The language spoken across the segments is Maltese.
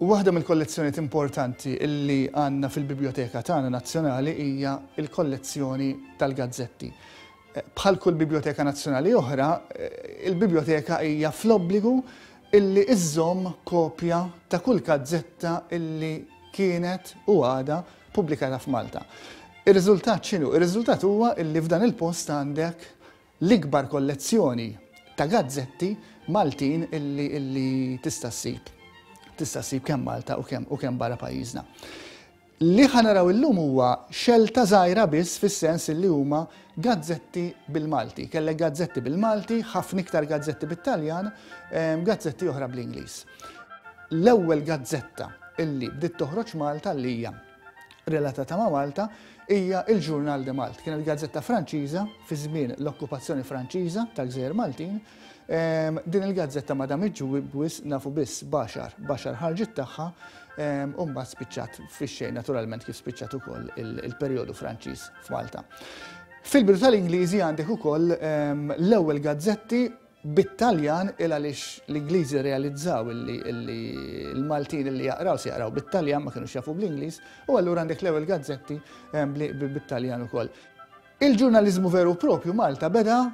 Waħda mill-kollezzjonijiet importanti li għandna fil-Biblioteka tagħna Nazzjonali hija l-kollezzjoni tal-gazzetti. Bħal kull Biblioteka Nazzjonali oħra, il-Biblioteka hija fl-obbligu illi iżżomm kopja ta' kull gazzetta illi kienet u għada pubblikata f'Malta. Ir-riżultat x'inhu? Ir-riżultat huwa li f'dan il-post għandek l-ikbar kollezzjoni ta' gazzetti Maltin illi tista' ssib. Tista' ssib kemm Malta u kemm u kemm barra pajjiżna. Li ħanaraw illum huwa xelta żgħira biss fis-sens li huma Gazzetti bil-Malti, kellek gazzetti bil-Malti, ħafna iktar gazzetti bit-Taljan, gazzetti oħra bl-Ingliż. L-ewwel gazzetta illi bdiet toħroġ Malta li hija relatata ma' Malta hija il-Journal de Malte. Kienet gazzetta Franċiża fi żmien l-okkupazzjoni Franċiża tal-Gżejjer Maltin Din il-gazzetta ma damitx wisq nafu biss baxar, baxar ħarġet tagħha u mbagħad spiċċat fix-xejn naturalment kif spiċċat ukoll il-perjodu Franċiż f'Malta. Fil-bidu tal-Ingliżi għandek ukoll l-ewwel gazzetti bit-Taljan il għaliex l-Ingliżi rrealizzaw li l-Maltin li jaqraw se jaqraw bit-Taljan ma kinux jafu bl-Ingliż u allura għandek l-ewwel gazzetti bit-Taljan ukoll. Il-ġurnaliżmu veru u proprju Malta beda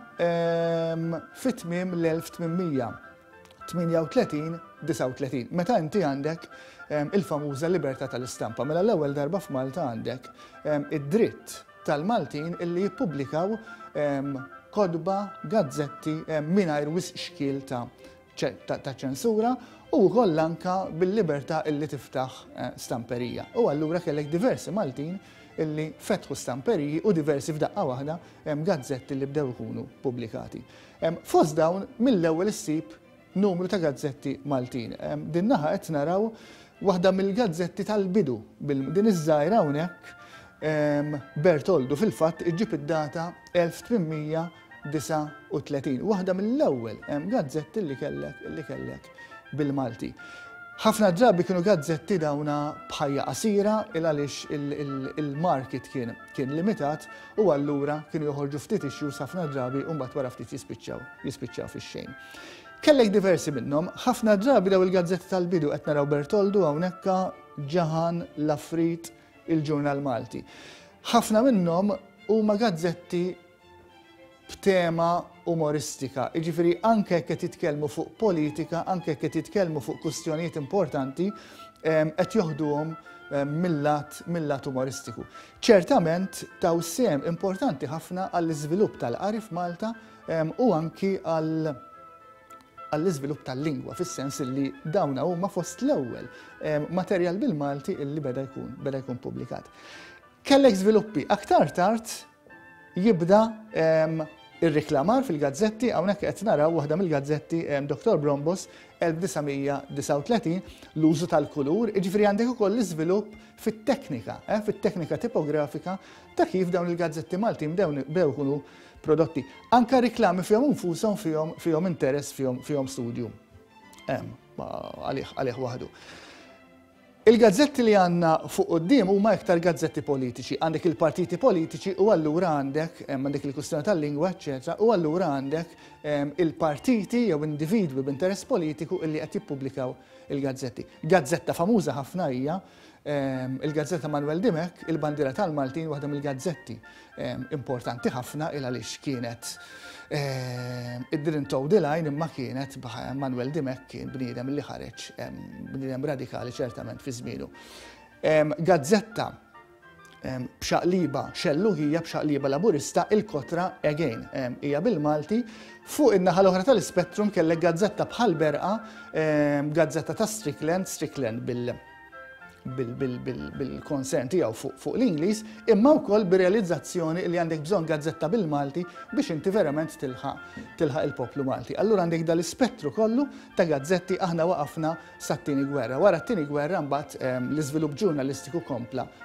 fi tmiem l-1838, 39, meta inti għandek il-famuża libertà tal-istampa. Mela l-ewwel darba f'Malta għandek id-dritt tal-Maltin illi jippubblikaw kotba, gazzetti mingħajr wisq xkiel ta' ta' ċensura u wkoll anke bil-libertà li tiftaħ stamperija. U allura kellek diversi Maltin li fetħu stamperiji u diversi f'daqqa waħda gazzetti li bdew ikunu pubblikati. Fost dawn mill-ewwel issib numru ta' gazzetti Maltin. Din naħa qed naraw waħda mill-gazzetti tal-bidu, din iż-żgħira hawnhekk Bertoldu fil-fatt iġġib id-data 1800, 39. Waħda mill-ewwel gazzetti li kellek li kellek bil-Malti. Ħafna drabi kienu gazzetti dawna bħajja qasira il għaliex il-market kien kien limitat u allura kienu joħorġu ftit issues ħafna drabi u mbagħad wara ftit jispiċċaw jispiċċaw fix-xejn. Kellek diversi minnhom, ħafna drabi daw il-gazzetti tal-bidu qed naraw Bertoldu hawnhekk Ġahan, Lafrit, il-Ġurnal Malti. Ħafna minnhom huma gazzetti b'tema umoristika. Jiġifieri anke jekk qed jitkellmu fuq politika, anke jekk qed jitkellmu fuq kwistjonijiet importanti, ehm, qed joħduhom ehm, mill-lat mill-lat umoristiku. Ċertament taw sem importanti ħafna għall-iżvilupp tal-qari f'Malta ehm, u anki għall għall-iżvilupp tal-lingwa, fis-sens li dawna huma fost l-ewwel materjal bil-Malti illi beda jkun beda jkun publikat. Kellek żviluppi. Aktar tard jibda ir-reklamar fil-gazzetti, hawnhekk qed naraw waħda mill-gazzetti Doktor Brombos 1939, l-użu tal-kulur, jiġifieri għandek ukoll l-iżvilupp fit-teknika, eh, fit-teknika tipografika ta' kif dawn il-gazzetti Maltin bdew ikunu prodotti. Anka reklami fihom infushom fihom fihom interess fihom fihom studju. Hemm għalih għalih waħdu. Il-gazzetti li għandna fuq quddiem huma iktar gazzetti politiċi. Għandek il-partiti politiċi u allura għandek dik il-kwistjoni tal-lingwa, eċċetera, u allura għandek il-partiti jew individwi b'interess politiku illi qed jippubblikaw il-gazzetti. Gazzetta famuża ħafna hija il-gazzetta Manwel Dimech, Il-Bandiera tal-Maltin, waħda mill-gazzetti importanti ħafna il għaliex kienet it didn't toe the line imma kienet Manuel Dimech kien bniedem li ħareġ bniedem radikali ċertament fi żmienu. Gazzetta b'xaqliba xelluħija b'xaqliba laburista il-kotra again hija bil-Malti fuq in-naħa l-oħra tal-ispettrum kellek gazzetta bħal berqa gazzetta ta' Strickland, Strickland bil bil-konsern tiegħu fuq l-Ingliż, imma wkoll bir-realizzazzjoni li għandek bżonn gazzetta bil-Malti biex inti verament tilħaq il-poplu Malti. Allura għandek dal-ispettru kollu ta' gazzetti aħna waqafna sat-tieni gwerra. Wara t-tieni gwerra mbagħad ehm, l-iżvilupp ġurnalistiku kompla